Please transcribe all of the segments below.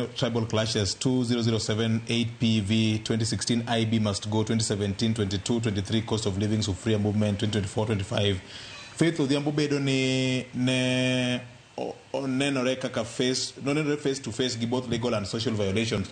Tribal Clashes 2007 8PV 2016 IB Must Go 2017 22 23 Cost of Living Sufuria Movement 2024 25 Faith Odhiambo bedo ni ne o- onenore kaka face nonenore face to face gi both legal and social violations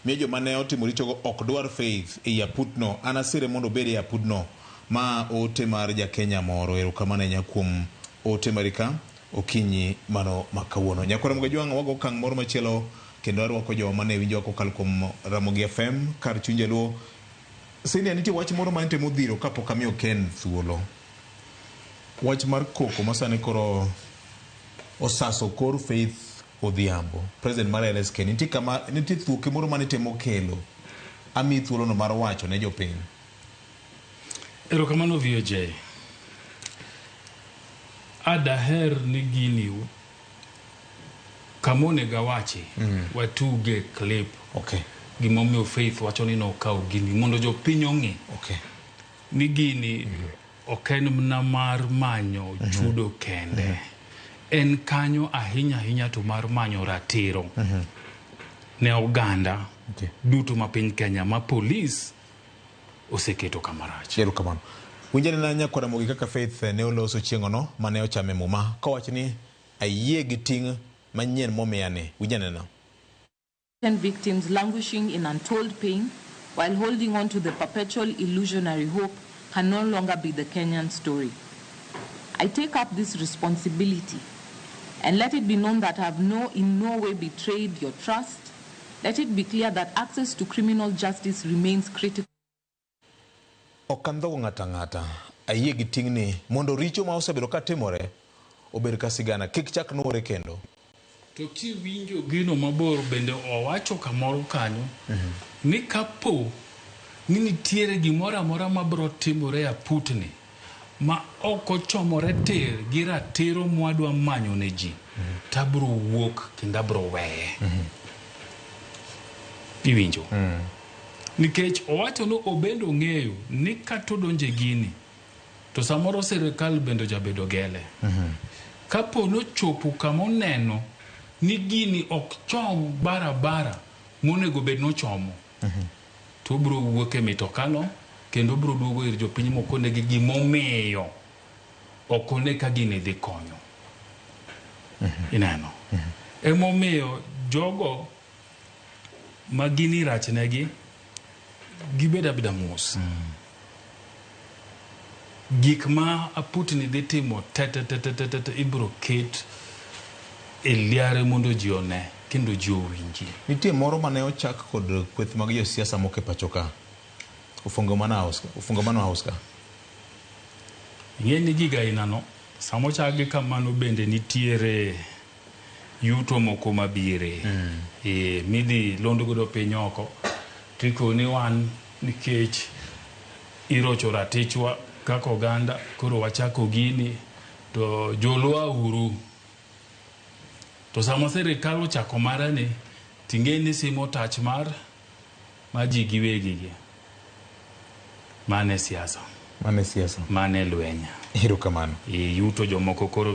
miyo joma ne otimo richogo ok dwar Faith ei aputno anasire mondo obed e aputno ma ote mar jakenya moro erokamano ahinya kuom ote marika Okinyi mano ma kawuono, Nyakwarom Gajwang' wago okang' moro machielo kendo arwako jowa mane winjowa kokalo kuom Ramogi FM, kar chuny jaluo. Senior, nitie wach moro ma antemo dhiro kapok amiyo Ken thuolo. Wach mar koko ma sani koro osaso kor Faith Odhiambo, President mar LSK. Nitie kama, nitie thuoke moro mane itemo kelo. Amiyi thuolono mar wacho ne jopiny. Erokamano VOJ. A daher ni gini u- kama onego awachi watuge clip Okay. gimomiyo faith wacho ni nokawo gini mondo jopiny ong'e Okay. ni gini ok en mna mar manyo chudo kende en kanyo ahinya ahinya to mar manyo ratiro ne oganda Okay. duto ma piny kenya ma polis oseketo kama rach. Erokamano. Winjane na nyakwa Ramogi kaka Faith ne oloso chieng'ono mane ochame muma kowacho ni ayie gi ting' manyien momiya ni. Winjane na. innocent victims languishing in untold pain while holding on to the perpetual illusionary hope can no longer be the Kenyan story. I take up this responsibility and let it be known that I have no in no way betrayed your trust, Let it be clear that access to criminal justice remains critical. Ok andhog ng'ato ang'ata. Ayie gi ting'ni mondo richo ma osebedo ka timore obed ka sigana, kik chak nuore kendo. To kiwinjo gino mabor bende owacho kamoro kanyo ni kapo ni nitiere gimoro amora mabiro timore aputni. ma ok ochomore tir gi ratiro mwadwa manyo ne ji, to abiro wuok kendo abiro weye. Iwinjo? Nikech owacho ni obende ong'eyo ni kata odonjo e gini, to samoro sirkal bende ojabedo gele. Kapo ni ochopo kama oneno ni gini ok chom barabara monego bed ni ochomo, to obiro wuok e mitokano kendo obiro duogo ir jopiny mokonegi gimomiyo ok one ka gini dhi konyo. Ineno? Emomiyo jogo ma gini rachnegi gibed abeda mos. Gik ma aputni dhi timo tetetetetet ibiro ket e liare mondo ji one kendo ji owinjie. Nitie moro mane ochak kod kweth mag josiasa moko e pacho ka, Ufungamano House ka, Ufungamano House ka. Ing'e ni gig ainano sama ochakgi kamano bende nitiere. yuto moko mabire eeh, midhi lond godo piny oko tikoni wan nikech irocho ratichwa kaka oganda koro wachako gini to joluo auru. To sama sirikal ochako mare ni ting'e ni simo tach mar ma ji giwegi gi. Mano e siasa. Mano e siasa. Mano e lweny. Erokamano. Yuto jomoko koro